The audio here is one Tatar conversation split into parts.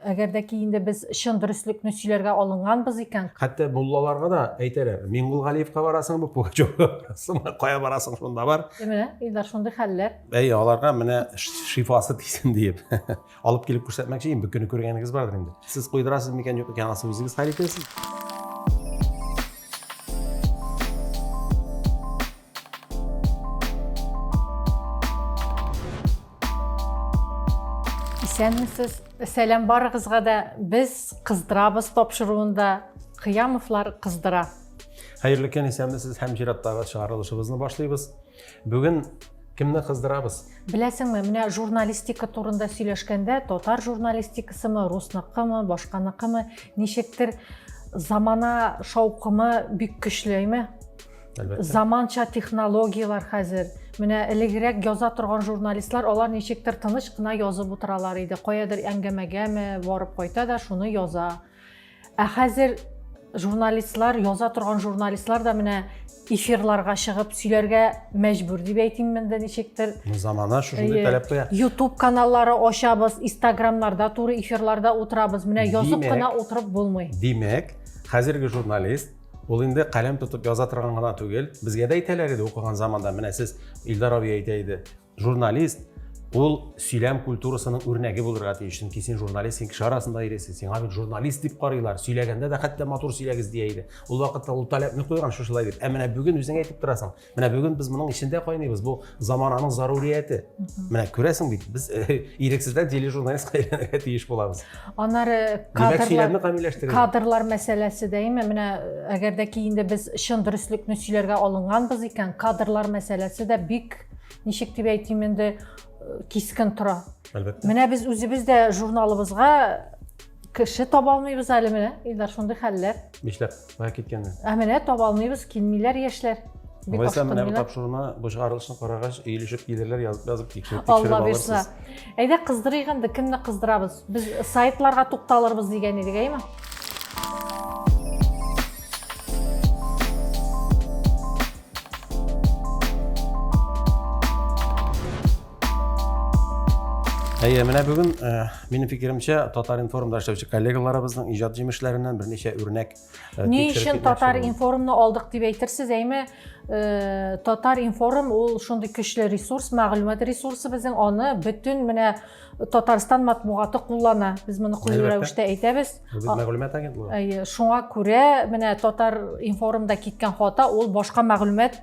Әгәр дә ки инде без чын дөреслекне сөйләргә алынганбыз икән. Хәтта муллаларга да әйтәләр, Миңгулгалиевка барасыңмы, Пугачевка барасыңмы, кая барасың шунда бар. Менә Илдар шундый хәлләр. Әй, аларга менә шифасы тисен диеп алып килеп күрсәтмәкче идем, бер көнне күргәнегез бардыр инде. Сез куйдырасыз микән, юк икән, асын үзегез хәл итәсез. Исәнмесез. Сәлам барыгызга да. Без кыздырабыз тапшыруында Кыямовлар кыздыра. Хәерле көн, исәнмесез һәм чираттагы чыгарылышыбызны башлыйбыз. Бүген кемне кыздырабыз? Беләсеңме, менә журналистика турында сөйләшкәндә, татар журналистикасымы, русныкымы, башканыкымы, ничектер замана шаукымы бик көчләйме? Әлбәттә. Заманча технологияләр хәзер. Менә элегрәк яза торган журналистлар алар ничектер тыныч кына язып утыралар иде. Каядыр әңгәмәгәме барып кайта да шуны яза. Ә хәзер журналистлар, яза торган журналистлар да менә эфирларга чыгып сөйләргә мәҗбүр дип әйтим монда ничектер. Замана шушындый таләп куя. YouTube каналлары ачабыз, Instagramларда туры эфирларда утырабыз. Менә язып кына утырып булмый. Димәк, хәзерге журналист Ул инде каләм тотып яза торган гына түгел. Безгә дә әйтәләр иде укыган заманда, менә сез Илдар абый әйтә иде. Журналист ул сөйләм культурасының үрнәге булырга тиеш. Чөнки син журналист, син кеше арасында йөрисең, сиңа бит журналист дип карыйлар. Сөйләгәндә дә хәтта матур сөйләгез дия иде. Ул вакытта ул таләпне куйган шушылай дип. Ә менә бүген үзең әйтеп торасың. Менә бүген без моның эчендә кайныйбыз. Бу замананың зарурияте. Менә күрәсең бит, без э, ирексездән тележурналистка әйләнергә тиеш булабыз. Аннары кадрлар, кадрлар мәсьәләсе дә име? Менә әгәр дә ки инде без чын дөреслекне сөйләргә алынганбыз икән, кадрлар мәсьәләсе дә бик ничек дип әйтим инде э, кискен тора. Әлбәттә. Менә без үзебез дә журналыбызга Кеше таба алмыйбыз әле менә, Илдар, шундый хәлләр. Нишләп? Кая киткәннәр? Ә менә таба алмыйбыз, килмиләр яшьләр. Бик Алайса менә бу тапшыруны бушгарылышын карагач, иелешеп килерләр, язып язып тикшереп тикшереп алырсыз. Әйдә кыздырыйк инде, кемне кыздырабыз? Без сайтларга тукталырбыз дигән идек, әйме? Әйе, менә бүген э, минем фикеремчә Татар-информда эшләүче коллегаларыбызның иҗат җимешләреннән берничә үрнәк э, Ни өчен Татар-информны алдык дип әйтерсез, әйме э, Татар-информ ул шундый көчле ресурс, мәгълүмат ресурсы безнең, аны бөтен менә Татарстан матбугаты куллана. Без моны куллы рәвештә әйтәбез. Без мәгълүмат агентлыгы. Әйе, шуңа күрә менә Татар-информда киткән хата ул башка мәгълүмат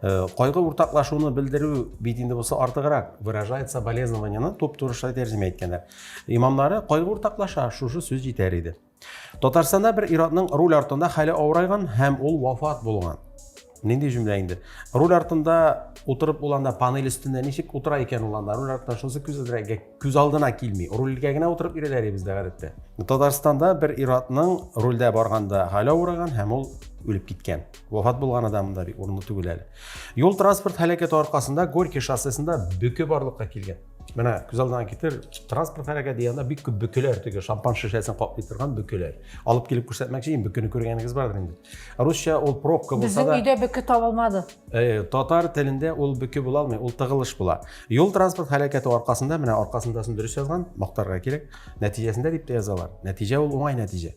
Э, кайгы уртаклашуны белдерү бит инде бусы артыграк выражает соболезнованияны туп турыша тәрҗемә иткәннәр имамнары кайгы уртаклаша шушы сүз җитәр иде татарстанда бер иратның руль артында хәле авырайган һәм ул вафат булган нинди җөмлә инде руль артында утырып ул анда панель өстендә ничек утыра икән ул анда руль артында шунысы күзәтергә күз алдына килми рульгә генә утырып йөрәләр бездә гадәттә татарстанда бер иратның рульдә барганда хәле авыраган һәм ул үлеп киткән Вафат булган адам да бик урынлы түгел әле. Юл транспорт һәлакәте аркасында Горький шоссесында бөке барлыкка килгән. Менә күз алдына китер, транспорт һәлакәте дигәндә бик күп бөкеләр теге шампан шешәсен каплый торган бөкеләр. Алып килеп күрсәтмәкче инде бөкене күргәнегез бардыр инде. Русча ул пробка булса да. Безнең өйдә бөке табылмады. Э, татар телендә ул бөке була алмый, ул тыгылыш була. Юл транспорт һәлакәте аркасында менә аркасындасын дөрес язган, мактарга кирәк. Нәтиҗәсендә дип тә язалар. Нәтиҗә ул уңай нәтиҗә.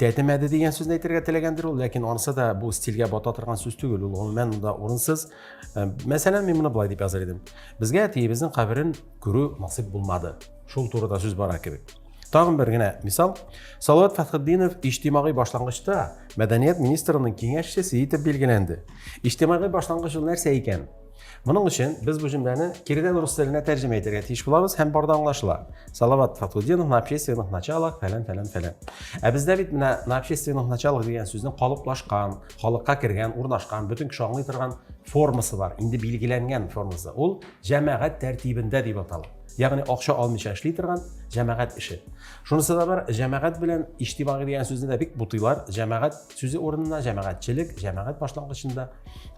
тәтемәде дигән сүзне әйтергә теләгәндер ул ләкин анысы да бу стильгә бата торган сүз түгел ул гомумән монда урынсыз э, мәсәлән мин моны былай дип языр идем безгә әтиебезнең каберен күрү насыйп булмады шул турыда сүз бара кебек тагын бер генә мисал салават фәтхетдинов иҗтимагый башлангычта мәдәният министрының киңәшчесе итеп билгеләнде иҗтимагый башлангыч ул нәрсә икән Моның өчен без бу җөмләне киредән рус теленә тәрҗемә итәргә тиеш булабыз һәм барда аңлашыла. Салават Фатудинов на общественных началах фәлән фәлән фәлән. Ә бездә бит менә на общественных началах дигән сүзнең калыплашкан, халыкка кергән, урнашкан, бөтен кеше аңлый торган формасы бар. Инде билгеләнгән формасы. Ул җәмәгать тәртибендә дип атала. Ягъни акча алмыйча эшли торган җәмәгать эше. Шунысы да бар, җәмәгать белән иҗтимагый дигән сүзне дә бик бутыйлар. Җәмәгать сүзе урынына җәмәгатьчелек җәмәгать башлангычында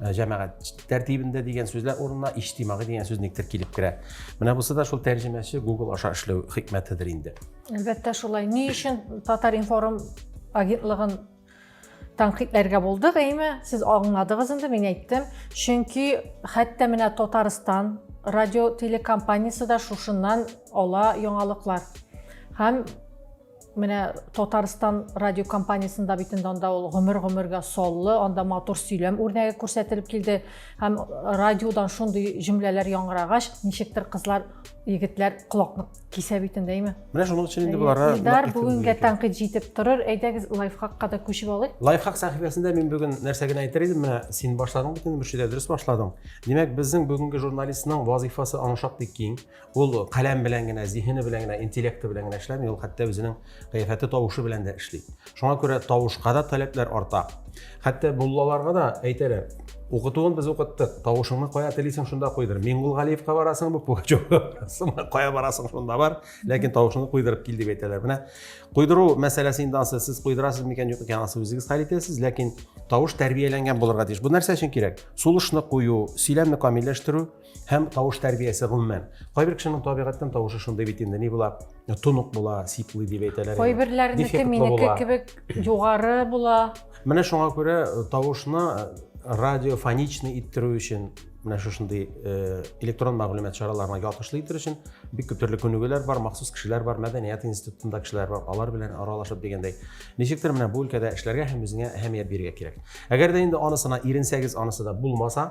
э, җәмәгать тәртибендә дигән сүзләр урынына иҗтимагый дигән сүз никтер килеп керә менә бусы да шул тәрҗемәче google аша эшләү хикмәтедер инде әлбәттә шулай ни өчен татар информ агентлыгын тәнкыйтьләргә булдык әйме сез аңладыгыз инде мин әйттем чөнки хәтта менә татарстан радио телекомпаниясе дә шушыннан ала яңалыклар һәм Менә Татарстан радиокомпаниясендә бит инде анда ул гомер-гомергә соллы, анда матур сөйләм үрнәге күрсәтелеп килде. Һәм радиодан шундый җөмләләр яңгырагач, ничектер кызлар, егетләр колакны кисә бит инде, әйме? Менә шуның өчен инде боларга Илдар, бүгенгә тәнкыйть җитеп торыр. Әйдәгез, лайфхакка да күчеп алыйк. Лайфхак сәхифәсендә мин бүген нәрсә генә әйтер идем, менә син башладың бит инде, Мөршидә, дөрес башладың. Димәк, безнең бүгенге журналистның вазыйфасы аның шактый киң. Ул каләм белән генә, зиһене белән генә, интеллекты белән генә эшләми, ул хәтта үзенең кыяфәте, тавышы белән дә эшли. Шуңа күрә тавышка да таләпләр арта. Хәтта муллаларга да әйтәләр, укытуын без укыттык, тавышыңны кая телисең, шунда куйдыр. Миңгул Галиевка барасың, бу Пугачевка барасыңмы, кая барасың, шунда бар, ләкин тавышыңны куйдырып кил дип әйтәләр. Менә куйдыру мәсьәләсе инде ансы сез куйдырасыз микән, юк икән, ансы үзегез хәл итәсез, ләкин тавыш тәрбияләнгән булырга тиеш. Бу нәрсә өчен кирәк? Сулышны кую, сөйләмне камилләштерү, һәм тавыш тәрбиясе гомумән. Кайбер кешенең табигатьтән тавышы шундый бит инде, ни була, тонык була, сиплый дип әйтәләр. Кайберләрнеке минеке кебек югары була. Менә шуңа күрә э, тавышны э, радиофоничный иттерү өчен менә шушындый э, электрон мәгълүмат чараларына ялкышлы итер өчен бик күп төрле күнегүләр бар, махсус кешеләр бар, мәдәният институтында кешеләр бар, алар белән аралашып дигәндәй. Ничектер менә бу өлкәдә эшләргә һәм үзеңә әһәмият бирергә кирәк. Әгәр дә инде анысына иренсәгез, анысы да булмаса,